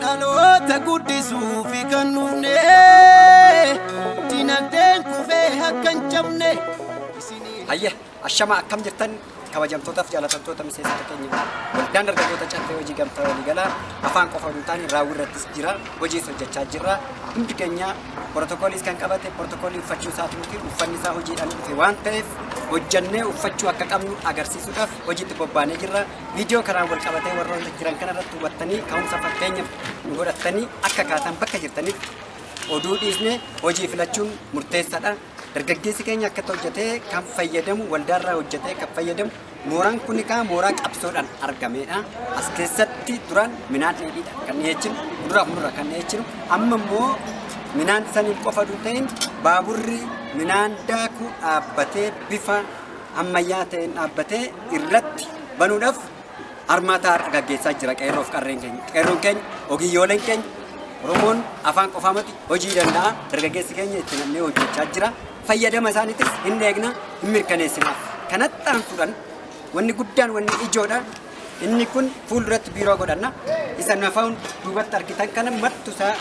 dhaloota guddisuuf kan dhufne dinagdeen kufee akka hin cabne isinii Hayya, ashama akkam jirtan kabajamtootaaf jaalatamtoota miseensota keenya waldaan dargaggoota caffee hojii gamtaa waliigalaa afaan qofa hin taane raawwii irrattis jira hojiis hojjechaa jirra hundi keenya Protokooliis kan qabate protokoolii uffachuu isaatiin miti uffanni isaa hojiidhaan dhufe waan ta'eef hojjannee uffachuu akka qabnu agarsiisuudhaaf hojiitti bobbaanee jirra. Viidiyoo kanaan wal qabatee warroota jiran kana irratti hubattanii ka'umsa fakkeenya nu godhattanii akka kaatan bakka jirtanitti oduu dhiisne hojii filachuun murteessaadha. Dargaggeessi keenya akkatti hojjetee kan fayyadamu, waldaarraa hojjetee kan fayyadamu, mooraan kun kaa mooraa qabsoodhaan argameedha. As keessatti duraan minaan dheedhiidha kan dhiyeechinu, kuduraa fi muduraa kan dhiyeechinu, amma immoo minaan saniin qofa osoo hin ta'in baaburri minaan daaku dhaabbatee bifa ammayyaa ta'een dhaabbatee irratti banuudhaaf armaataa har'a gaggeessaa jira qeerroof qarreen keenya. Qeerroon keenya, ogiyyooleen keenya, Oromoon afaan qofaa miti hojii danda'a dargaggeessi keenya itti namnee hojjechaa jira. Fayyadama isaaniitis hin eegna hin mirkaneessina. Kanatti aansuudhaan wanni guddaan wanni ijoodha. Inni kun fuulduratti biiroo godhanna. Isa nafaan duubatti argitan kana martu isaa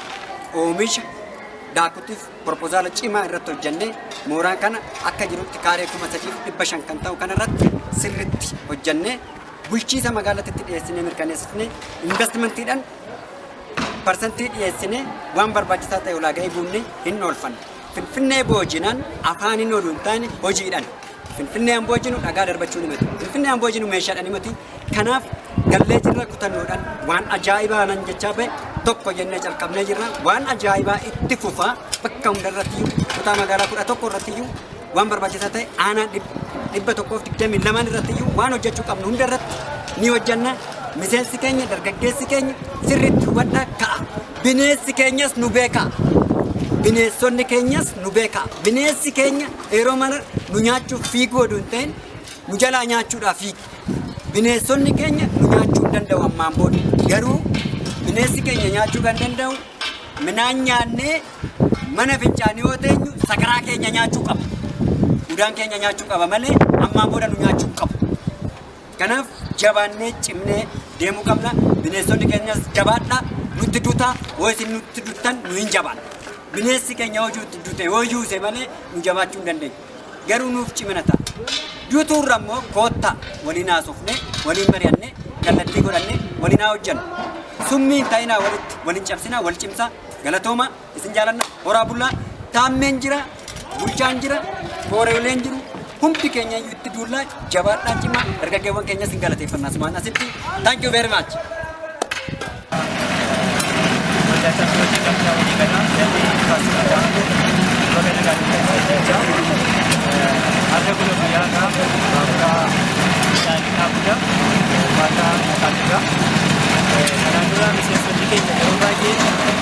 oomisha daakutiif Propozaala cimaa irratti hojjannee mooraan kana akka jirutti kaaree kuma sadiif dhibba shan kan ta'u kana irratti sirritti hojjannee bulchiisa magaalatitti dhiyeessinee mirkaneessifnee investimantiidhaan parsantii dhiyeessinee waan barbaachisaa ta'e ulaagaa eeguunni hin oolfanne. Finfinnee boojinaan afaan hin oolu hin taane hojiidhaan. Finfinnee Amboo jinu dhagaa darbachuu ni mati. Finfinnee Amboo jinu meeshaadha ni mati. Kanaaf gallee jirra kutannoodhaan waan ajaa'ibaa nan jechaa ba'e tokko jennee calqabnee jirra. Waan ajaa'ibaa itti fufaa bakka hundarratti iyyuu kutaa magaalaa kudha tokko irratti iyyuu waan barbaachisaa ta'e aanaa dhib- dhibba tokkoof digdamii lamaan irratti iyyuu waan hojjechuu qabnu hunda irratti ni hojjenna. Miseensi keenya dargaggeessi keenya sirriitti hubadhaa ka'a. Bineensi keenyas nu beekaa. Bineensonni keenyas nu beekaa. Bineensi keenya Qeeroo mana nu nyaachuuf fiiguu oduu hin ta'in nu jalaa nyaachuudhaa fiigi. Bineensonni keenya nu nyaachuu hin danda'u ammaan booda. Garuu bineensi keenya nyaachuu kan danda'u minaan nyaannee mana fincaanii yoo teenyu sakaraa keenya nyaachuu qaba. Udaan keenya nyaachuu qaba malee ammaan booda nu nyaachuu hin qabu. Kanaaf jabaannee cimnee deemuu qabna. Bineensonni keenyas jabaadha. Nutti dutaa yoo isin nutti duttan nu hin jabaanna. Bineensi keenya hojii itti dute yoo yuuse malee nu jabaachuu hin dandeenyu. Garuu nuuf cimina ta'a. Dutuurra immoo koottaa waliin haasofne, waliin mari'anne, kallattii godhanne waliin haa hojjennu. Summii hin ta'inaa walitti, waliin cabsinaa, wal cimsaa. Galatoomaa. Isin jaalanna horaa bullaa taammeen jira bulchaan jira kooreeleen jiru hundi keenya iyyuu itti duullaa jabaadhaa cimaa dargaggeewwan keenya isin galateeffannaa sumaan asitti thank you very much. Thank you.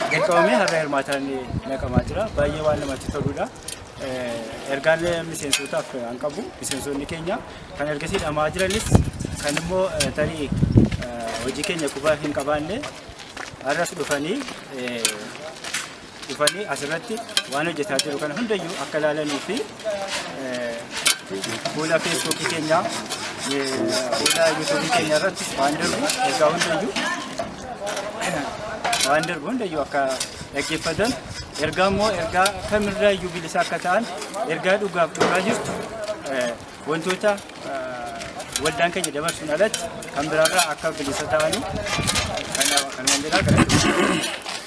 gaggeeffamame har'a hirmaataan naqamaa jira. Baay'ee waan namatti toludha. Ergaan miseensotaaf kan qabu miseensonni keenya kan ergasii dhamaa jiranis kan immoo tarii hojii keenya quba hin qabaanne har'as dhufanii dhufanii asirratti waan hojjetaa jiru kana hundayyuu akka ilaalanii fi fuula feesbuukii keenyaa fuula yuutuubii keenya irratti waan darbu ergaa hundayyuu waan darbu hundayyuu akka dhaggeeffatan ergaa immoo ergaa kamirraa iyyuu bilisa akka ta'an ergaa dhugaaf dhugaa jirtu eh, wantoota eh, waldaan keenya dabarsuun alatti kan biraarraa akka bilisa ta'anii kanaaf kan wandiraa gara